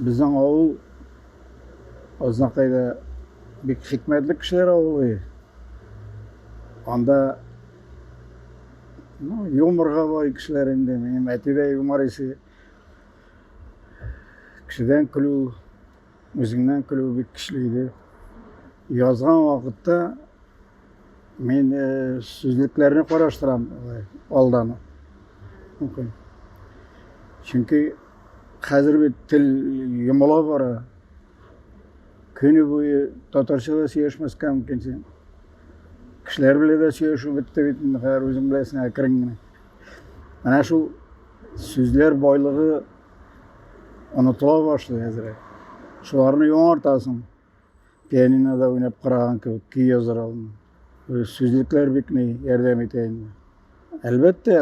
Безнең авыл Азнакайда бик хикмәтле кешеләр авылы. Анда ну, юморга бай кешеләр инде. Минем әти дә юмор исе. Кешедән көлү, үзеңнән көлү бик көчле иде. Язган вакытта мин э, сүзлекләрне караштырам алдан. Чөнки Хәзер бит тел йомыла бара. Көне буе татарча да сөйләшмәскә мөмкин син. Кешеләр белән дә сөйләшү бетте бит инде, хәзер үзең беләсең әкрен генә. Менә шул сүзләр байлыгы онытыла башлый әзрәк. Шуларны яңартасың. Пианинода уйнап караган кебек көй язар алдым. Сүзлекләр бик ни ярдәм итә инде. Әлбәттә,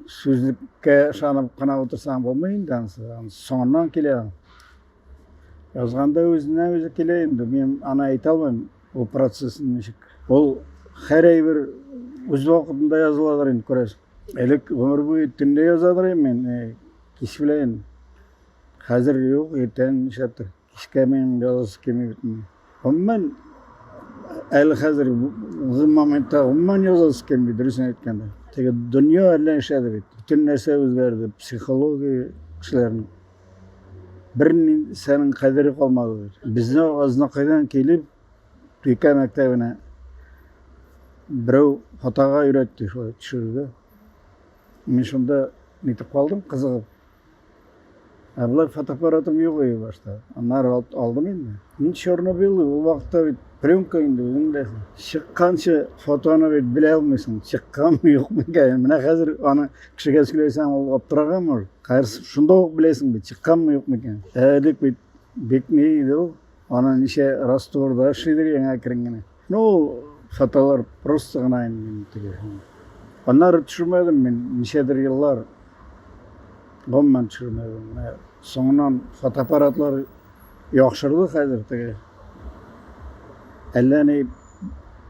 сүзлеккә ышанып кына утырсаң булмый инде ансы. Соңыннан килә. Язганда үзенә үзе килә инде. Мин аны әйтә алмыйм, ул процессын ничек. Ул һәр әйбер үз вакытында языладыр инде, күрәсең. Элек гомер буе төнлә язадыр мин, кич белән. Хәзер юк, иртән нишләптер. Эшкә минем ялгызы килми бит инде. Гомумән, әле хәзер ул моментта гомумән ялгызы килми, дөресен әйткәндә. Теге дөнья әллә эшләде бит. Бөтен нәрсә үзгәрде, психология кешеләрнең. Бер нәрсәнең кадере калмады бит. Безне азнакайдан килеп, Пика мәктәбенә берәү хатага өйрәтте, шулай төшерде. Мин шунда нитеп калдым, кызыгып. Ә болар фотоаппаратым юк иде башта. Аннары алып алдым инде. Мин Чернобыль ул вакытта бит пленка инде үзең беләсең. Чыкканчы фотоны бит белә алмыйсың. Чыкканмы юкмы икән. Менә хәзер аны кешегә сөйләсәң ул аптыраган может. Хәзер шунда ук беләсең бит чыкканмы юкмы икән. Ә элек бит бик ни иде ул. Аны ничә растворда эшлидер яңа керенгәне. Ну, фотолар просто гына инде теге. Аннары төшермәдем мин, ничәдер еллар гомумән төшермәдем. Менә соңыннан фотоаппаратлар яхшырды хәзер теге. Әллә ни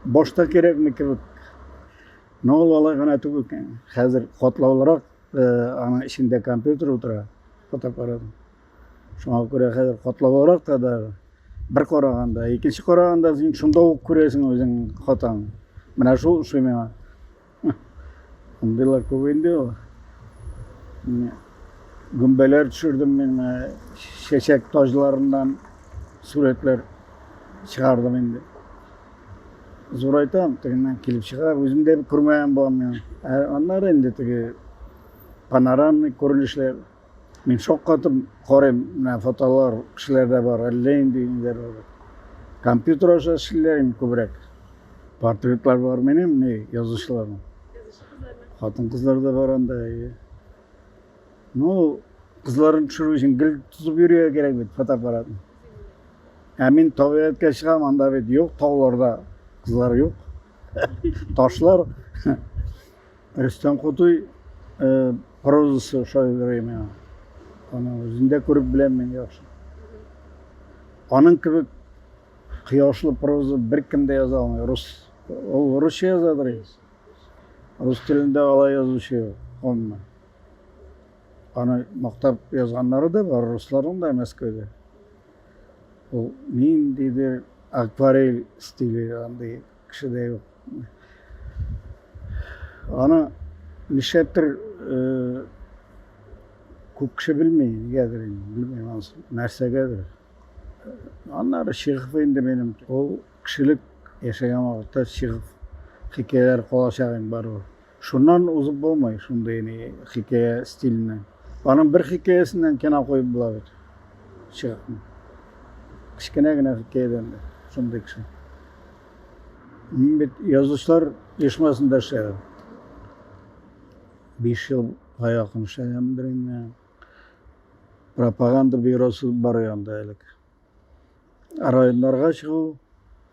башта кирәкме кебек. Но ул алай гына түгел. Хәзер катлаулырак, э, аның эчендә компьютер утыра, фотоаппарат. Шуңа күрә хәзер катлаулырак та да бер караганда, икенче караганда син шунда ук күрәсең үзең хатаң. Менә шул ошый миңа. Андыйлар күп инде ул. Гөмбәләр төшердем мин, чәчәк таҗларыннан сурәтләр чыгардым инде. Зурайтам, тегеннән килеп чыга, үзем дә күрмәгән булам мин. Ә аннары инде теге панорамный күренешләр Мин шаккатып карыйм, менә фотолар кешеләрдә бар, әллә инде ниләр бар. Компьютер аша эшлиләрме күбрәк? Портретлар бар менем, не язучыларның. Хатын кызлар да бар анда. Ну, кызларын төшерү өчен гел тотып йөрергә кирәк бит фотоаппаратны. Ә мин табигатькә чыгам, анда бит юк, тауларда кызлар юк. Ташлар. Рөстәм Кутуй прозасы ошый бирә миңа. Аның үзен дә күреп беләм мин яхшы. Аның кебек кояшлы проза беркем дә яза алмый. Рус ул русча язадыр инде. Рус телендә алай язучы юк. Онмы. Аны мактап язганнары да бар, русларның да Мәскәүдә. Ул ниндидер акварель стиле андый Кеше дә юк. Аны нишләптер күп кеше белми, нигәдер инде, белмим ансын, нәрсәгәдер. Аннары Чехов инде минем, ул кешелек яшәгән вакытта Чехов хикәяләре калачак инде барыбер. Шуннан узып булмый шундый ни хикәя стиленнән. Аның бер хикәясеннән кино куеп була бит. Чыгып. Кечкенә генә хикәядән дә шундый кеше. Мин бит язучылар оешмасында эшләдем. Биш елга якын эшләгәнмен береннән. Пропаганда бюросы бар янда элек. районнарга чыгу,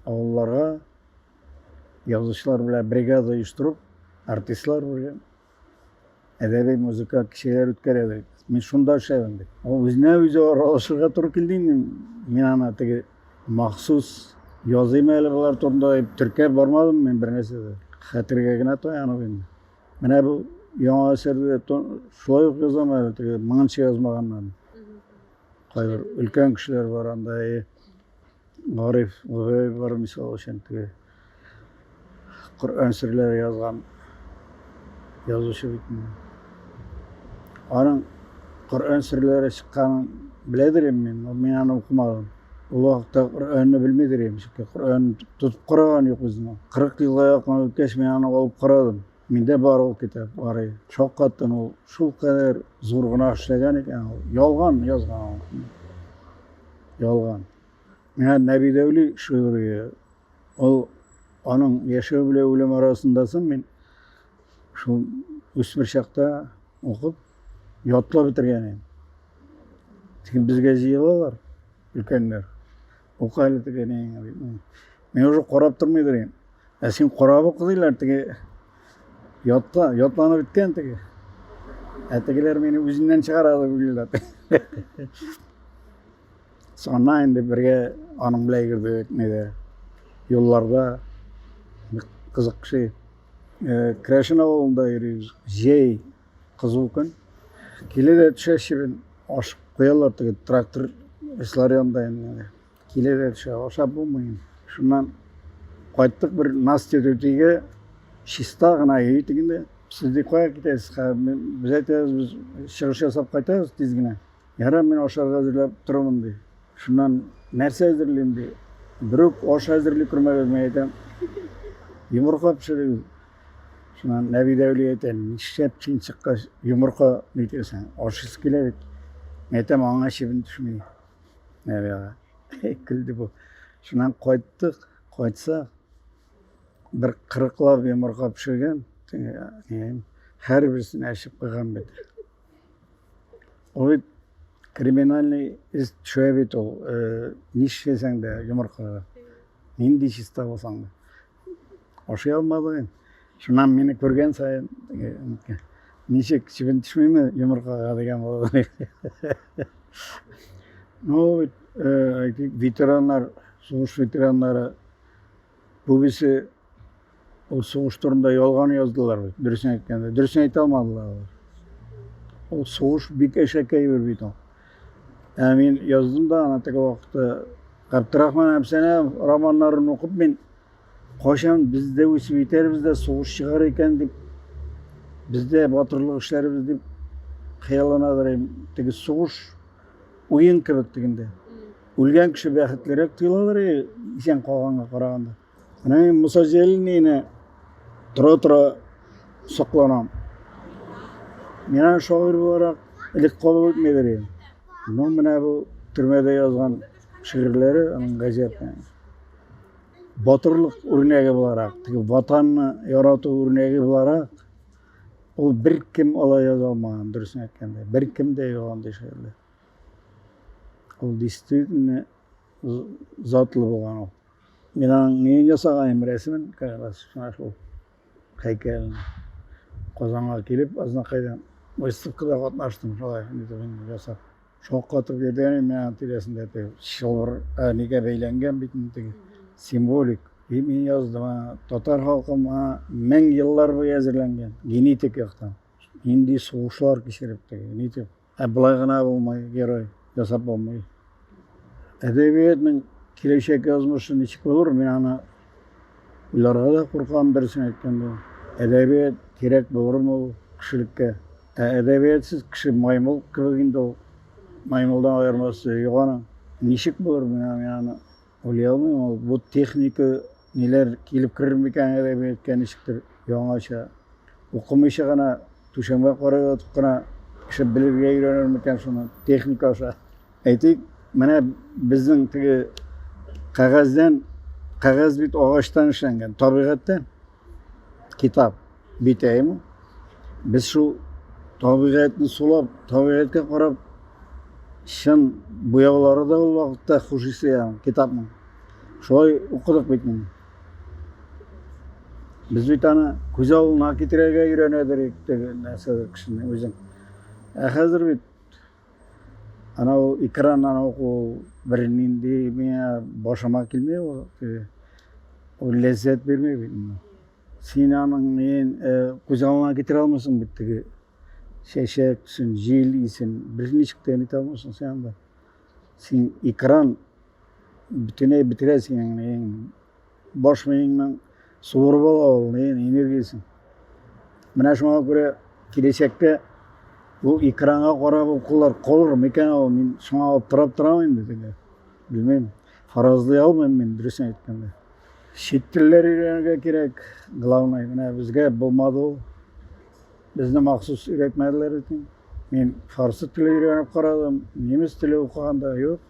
авылларга язучылар белән бригада оештырып, артистлар белән әдәби музыка кичәләр үткәрәбез. Мин шунда эшләдем бит. Ул үзенә үзе аралашырга туры килде инде. Мин аны теге махсус языйм әле болар турында дип теркәп бармадым мин бернәрсә дә. Хәтергә генә таянып инде. Менә бу яңа әсәрдә шулай ук язам әле теге моңынча язмаганнан. Кайбер өлкән кешеләр бар анда, и Гариф Гүгәй бар, мисал өчен, теге Коръән серләре язган язучы бит инде. Аның Коръән серләре чыкканын беләдер инде мин, но мин аны укымадым. Ул вакытта Коръәнне белмидер идем, чөнки Коръән тотып караган юк үземә. 40 елга якын үткәч, мин аны алып карадым. Миндә бар ул китап, барый. Шаккаттым ул. Шул кадәр зур гына эшләгән икән ул. Ялган язган ул. Ялган. Менә Нәби Дәүли шигырие. Ул аның яшәү белән үлем арасында соң мин шул үсмер чакта укып, ятлап бетергән идем. Тик безгә җыелалар өлкәннәр. Ука әле теге не. Мин уже карап тормыйдыр инде. Ә син карап укыдылар теге ятка, ятланып беткән теге. Ә тегеләр мине үзеннән чыгарады бүлеләр. Соннан инде бергә аның белән йөрдек, неде. Юлларда кызык ши. Э, Крашен авылында йөрибез. Җәй Кызу көн. Киле дә төшә чебен. Ашып куялар теге трактор эшләр янында инде. Киле дә төшә, ашап булмый. Шуннан кайттык бер Настя түтигә чиста гына өй тегендә. Сез ди кая китәсез? Без әйтәбез, без чыгыш ясап кайтабыз тиз генә. Ярар, мин ашарга әзерләп торырмын ди. Шуннан нәрсә әзерлим ди. Берүк аш әзерли күрмәгез, мин әйтәм. Йомырка пешерегез. Шуннан Нәби Дәүли әйтә, нишләп син чыккач йомырка нитәсең? Ашыйсы килә бит. Мин әйтәм, аңа чебен төшми. Нәби ага. Көлде бу. Шуннан кайттык, кайтса бер кырыклап йомырка пешергән, һәр берсен әчеп куйган бит. Ул бит криминальный эз төшә бит ул. Нишләсәң дә йомыркага. Нинди чиста булсаң да. Ашый алмады. Шуннан мине күргән саен ничек чебен төшмиме йомыркага дигән булды. Ну, ветераннар, сугыш ветераннары бүгесе ул сугыш турында ялган яздылар бит, дөресен әйткәндә. Дөресен әйтә алмадылар алар. Ул сугыш бик әшәкәй бер бит ул. Ә мин яздым да ана теге вакытта Габдрахман Әбсәнәв романнарын укып мин кайчан без дә үсеп итәрбез дә сугыш чыгар икән дип бездә батырлык эшләрбез дип хыялланадыр идем. Теге сугыш уен кебек дигәндә. Үлгән кеше бәхетлерәк тоеладыр исән калганга караганда. Менә мин Муса Җәлилнене тора-тора сокланам. Миңа шагыйрь буларак элек кабул итмәдер идем. Но менә бу төрмәдә язган шигырьләре аның гаҗәпне. Батырлык үрнәге буларак, теге ватанны ярату үрнәге буларак ул беркем алай яза алмаган, дөресен әйткәндә. Беркем дә юк андый шигырьләр. Ул действительно затлы булган ул. Мин аның неен ясаганым, рәсемен, как раз шуңа шул һәйкәлен. Казанга килеп, Азнакайда выставкада катнаштым, шулай итеп инде ясап. Шаккатып йөргән мин аның тирәсендә теге чылбыр ә, нигә бәйләнгән бит инде теге символик. И мин яздым, а, татар халкы моңа мең еллар буе әзерләнгән, генетик яктан. Нинди сугышлар кичереп теге, нитеп Ә болай гына булмый, герой ясап булмый. Әдәбиятның киләчәк язмышы ничек булыр, мин аны уйларга да куркам, дөресен әйткәндә. Әдәбият кирәк булырмы ул кешелеккә? Ә әдәбиятсыз кеше маймыл кебек инде ул. Маймылдан аермасы юк аның. Ничек булыр, мин аны Уйлый алмыйм ул, бу техника ниләр килеп керер микән әле әйткән ничектер яңача. Укымыйча гына түшәмгә карап ятып кына кеше белергә өйрәнер микән шуны техника аша. Әйтик, менә безнең теге кәгазьдән кәгазь бит агачтан эшләнгән, табигатьтә Китап. Битәем. Без шул табигатьне сулап, табигатькә карап, чын буяулары да ул вакытта хуш исле ягы китапның. Шулай укыдык бит мин. Без бит аны күз алдына китерергә өйрәнәдер идек, нәрсәдер кешене үзен. Ә хәзер бит анау экран анау ул бер нинди миңа башыма килмей ул ул ләззәт бирмей бит син аның ен күз алдыңа китере алмыйсың бит теге чәчәксен җил исен бер ничек тә нитә алмыйсың син анда син экран бөтенләй бетерә синең баш миеңнең суырып ала ул энергиясен. Менә шуңа күрә киләчәктә бу экранга карап укулар калыр микән ул? Мин шуңа аптырап торам инде теге. Белмим. Фаразлый алмыйм мин дөресен әйткәндә. Чит телләр өйрәнергә кирәк. Главное, менә безгә булмады ул. Безне махсус өйрәтмәделәр икән. Мин фарсы теле өйрәнеп карадым, немец теле укыганда юк.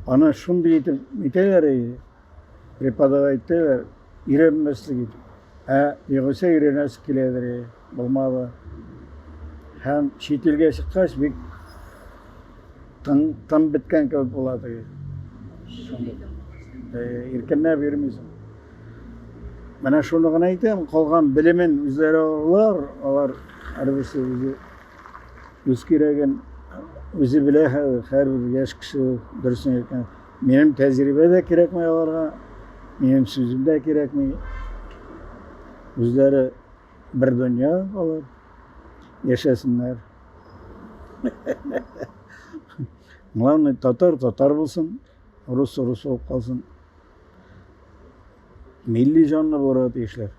Аны шундый итеп үтәләр иде, преподавать итәләр, өйрәнмәслек итеп. Ә югыйсә өйрәнәсе киләдер иде, булмады. Һәм чит илгә чыккач бик тын, тын беткән кебек була теге. Иркенләп йөрмисең. Менә шуны гына әйтәм, калган белемен үзләре алар, алар һәрберсе үзе Үз кирәген үзе белә хәзер, һәрбер яшь кеше дөресен әйткән. Минем тәҗрибә дә кирәкми аларга, минем сүзем дә кирәкми. Үзләре бер дөнья алар. Яшәсеннәр. Главное, татар татар булсын, рус рус булып калсын. Милли җанны булырга тиешләр.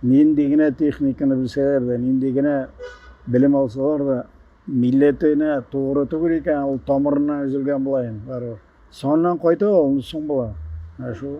Нинди генә техниканы белсәләр дә, нинди генә белем алсалар да, милләтенә тугры түгел икән, ул тамырыннан өзелгән була инде барыбер. Соңыннан кайта ул, соң була. Ә шул